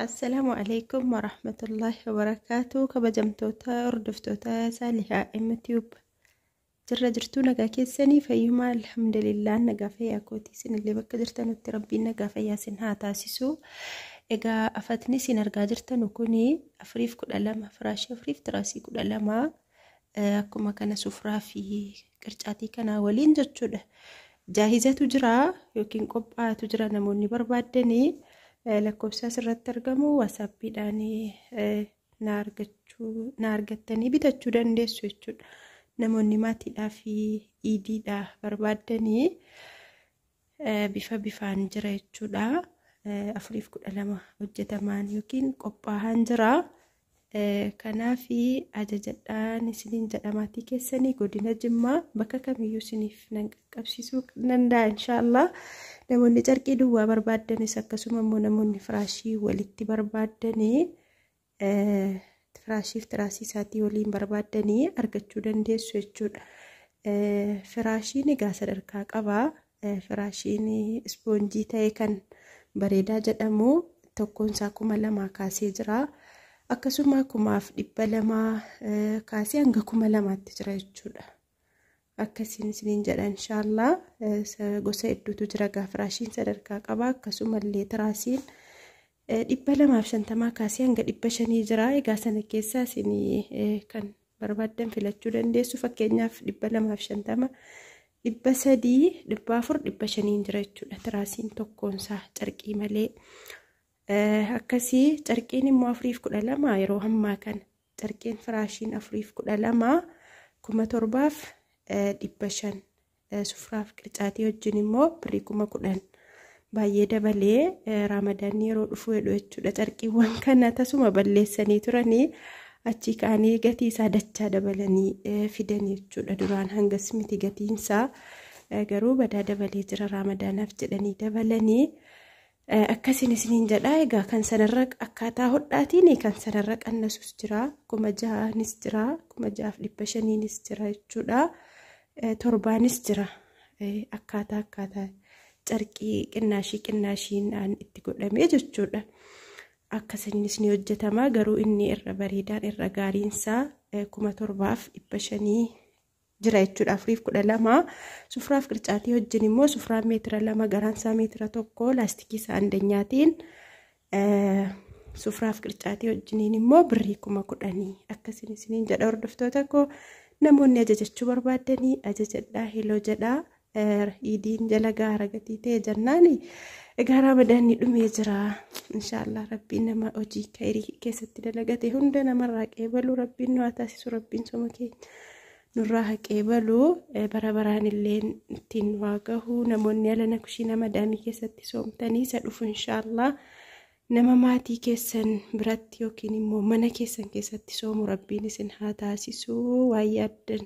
Assalaamu alaikum warahmatullaahi wabarakaatu kabajamtoota hordoftoota saalihaa mtube jirra jirtuu nagaa keessanii fayyumaa alhamdulillah nagaa fayyaa kootii isinillee bakka jirtanutti rabbiin nagaa fayyaa isin haa taasisu egaa afatni isin argaa jirtanu kuni afuriif kudha lama firaashii afuriif tiraasii kudha lama akkuma kana sufraa fi Qircaatii kanaa waliin jechuudha. Jaahizatu jira yookiin qophaa'atu jira namoonni barbaaddanii lakkoofsa asirratti argamu waasaappiidhaan na argattanii bitachuu dandeessu jechuudha. Namoonni maatiidhaa fi iidiidhaa barbaaddanii bifa bifaan jira jechuudha. Afuriif kudha lama hojjetamaan yookiin qophaa'aan jira. Kanaaf ajajadhaan isiniin jedha maatii keessanii godina Jimmaa bakka kamiyyuu isiniif nan qaqqabsiisuu danda'a inshaallah. Namoonni carqii duwwaa barbaaddanis akkasuma immoo namoonni firaashii walitti barbaaddan Firaashiif tiraasii isaatii waliin barbaaddanii argachuu dandeessu jechuudha. Firaashiin egaa sadarkaa qaba. Firaashiin ispoonjii ta'e kan bareedaa jedhamu tokkoon isaa kuma lamaa kaasee jira. Akkasuma kumaaf dhibba lamaa kaasee hanga kuma lamaatti jira jechuudha. akkasiin isiniin jedha inshaallaa gosa hedduutu jira gaa firaashiin sadarkaa qaba akkasumallee tiraasiin dhibba lamaaf shantamaa kaasee hanga dhibba shanii jira egaa sana keessaa isin kan barbaaddan filachuu dandeessu fakkeenyaaf dhibba lamaaf shantama dhibba sadii dhibba afur dhibba shaniin jira jechuudha tiraasiin tokkoonsaa carqii malee akkasii carqiin immoo afuriif kudha lama yeroo ammaa kana Carqiin firaashiin afuriif kudha lama kuma torbaaf dhibba shan sufraaf qircaatii wajjin immoo birrii kuma kudhan baay'ee dabalee raamadaanni yeroo dhufuu jedhu jechuudha carqiiwwan kana tasuma balleessanii turanii achii ka'anii gatii isaa dachaa dabalanii fidan jechuudha duraan hangas miti gatiinsaa garuu badaa dabalee jira raamadaanaaf jedhanii dabalanii Akkasiin isiniin jedha egaa kan sanarra akkaataa hodhaatiin kan sanarra qannasus jira kuma jahaanis jira kuma jahaaf dhibba shaniinis jira jechuudha torbaanis jira akkaataa akkaataa carqii qinnaashii qinnaashiin itti godhamee jechuudha akkasiinis ni hojjetama garuu inni irra bareedaan irra gaariinsaa kuma torbaaf dhibba shanii jira jechuudha afuriif kudha lama sufraaf qircaatii wajjin immoo sufraan meetira lama garaan isaa meetira tokko laastikii isaa andanyaatiin sufraaf qircaatii wajjiniin immoo birrii kuma kudhanii akkasiin isiniin jedha hordoftoota koo namoonni ajajachuu barbaaddanii ajajadhaa heloo jedhaa Iidiin jala gaara gatii ta'e jennaan egaa ramadaanni dhumee jira inshaallah rabbiin nama hojii kayrii keessatti dalagate hunda namarraa qeebalu rabbiin nu haa taasisu rabbiin soma keenya nurraa haa qeebalu bara baraan illee ittiin waa gahu namoonni alana kushiina madaamii keessatti soomtanii isa dhufu inshaallah nama maatii keessan biratti yookiin immoo mana keessan keessatti soomu rabbiin isin haa taasisu waa yaaddan